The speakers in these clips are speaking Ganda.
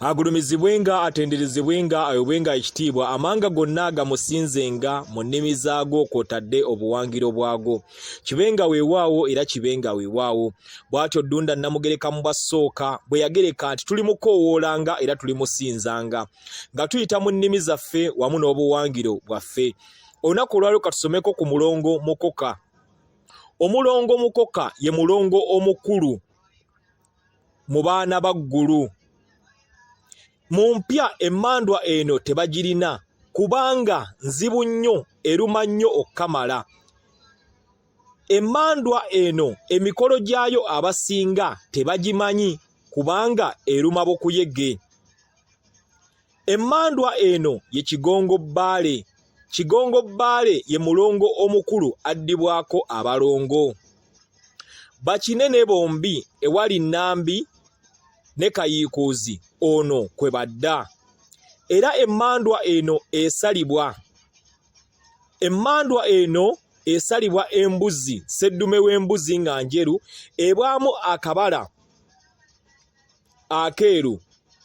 agulumizibwenga atenderezebwenga ayobwenga ekitiibwa amanga gonna gamusinzenga mu nnimi zaago kwotadde obuwangiro bwago kibenga weewaawo era kibenga weewaawo bw'atyo ddunda namugereka mu bwasooka bwe yagereka nti tuli mukoowoolanga era tuli musinzanga nga tuyita mu nnimi zaffe wamu n'obuwangiro bwaffe olunaku olwalio katusomeko ku mulongo mukoka omulongo mukoka ye mulongo omukulu mu baana ba ggulu mu mpya emmandwa eno tebagirina kubanga nzibu nnyo eruma nnyo okukamala emmandwa eno emikolo gyayo abasinga tebagimanyi kubanga eruma bukuyege Emmandwa eno ye Kigongo Bbaale. Kigongo Bbaale ye mulongo omukulu addibwako abalongo. Bakinene bombi ewali Nambi ne Kayiikuuzi ono kwe badda. Era emmandwa eno esalibwa. Emmandwa eno esalibwa embuzi, sseddume w'embuzi nga njeru ebwamu akabala akeeru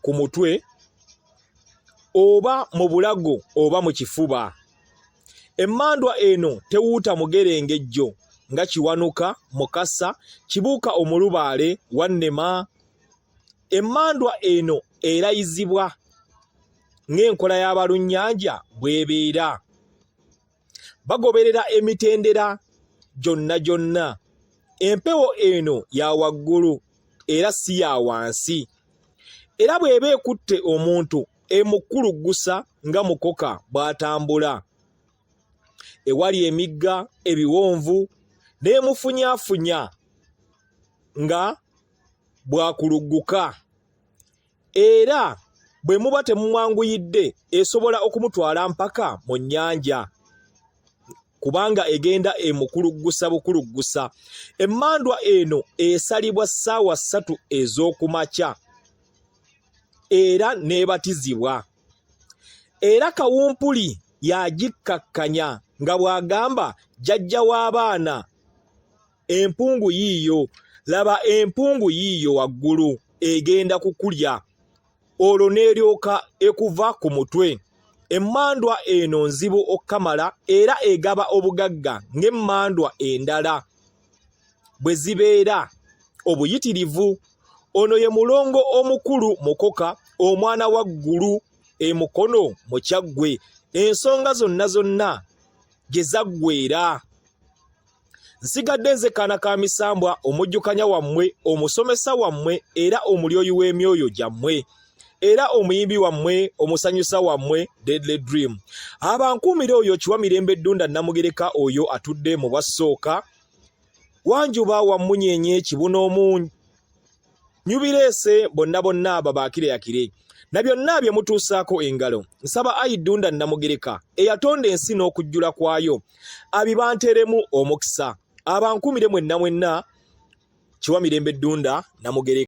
ku mutwe oba mu bulago oba mu kifuba emmandwa eno tewuuta mugerengejjo nga kiwanuka mukasa kibuuka omulubaale wannema emmandwa eno erayizibwa ng'enkola y'abalunnyanja bw'ebeera bagoberera emitendera gyonna gyonna empewo eno ya waggulu era si ya wansi era bw'eba ekutte omuntu emukuluggusa nga mukoka bw'atambula ewali emigga ebiwonvu n'emufunyaafunya nga bwakulugguka era bwe muba temumwanguyidde esobola okumutwala mpaka mu nnyanja kubanga egenda emukuluggusa bukuluggusa emmandwa eno esalibwa ssaawa ssatu ez'okumakya era n'ebatizibwa era kawumpuli yagikkakkanya nga bw'agamba jjajja w'abaana empungu yiiyo laba empungu yiiyo waggulu egenda kukulya olwo n'eryoka ekuva ku mutwe emmandwa eno nzibu okukamala era egaba obugagga ng'emmandwa endala bwe zibeera obuyitirivu ono ye mulongo omukulu mukoka omwana wa ggulu emukono mu kyaggwe ensonga zonna zonna gye zaggweera nsigadde nze kaana ka misambwa omujjukanya wammwe omusomesa wammwe era omulyoyi w'emyoyo gyammwe era omuyimbi wammwe omusanyusa wammwe deadly dream abankuumira oyo kiwa mirembe ddunda namugereka oyo atudde mu bwassooka wanjuba wammunyenye kibuna omunyi nyubireese bonna bonna abo baakireyakire na byonna bye mutuusaako engalo nsaba ayi ddunda nnamugereka eyatonda ensi n'okujjula kwayo abibanteremu omukisa abankumire mwenna mwenna kiwa mirembe ddunda namugereka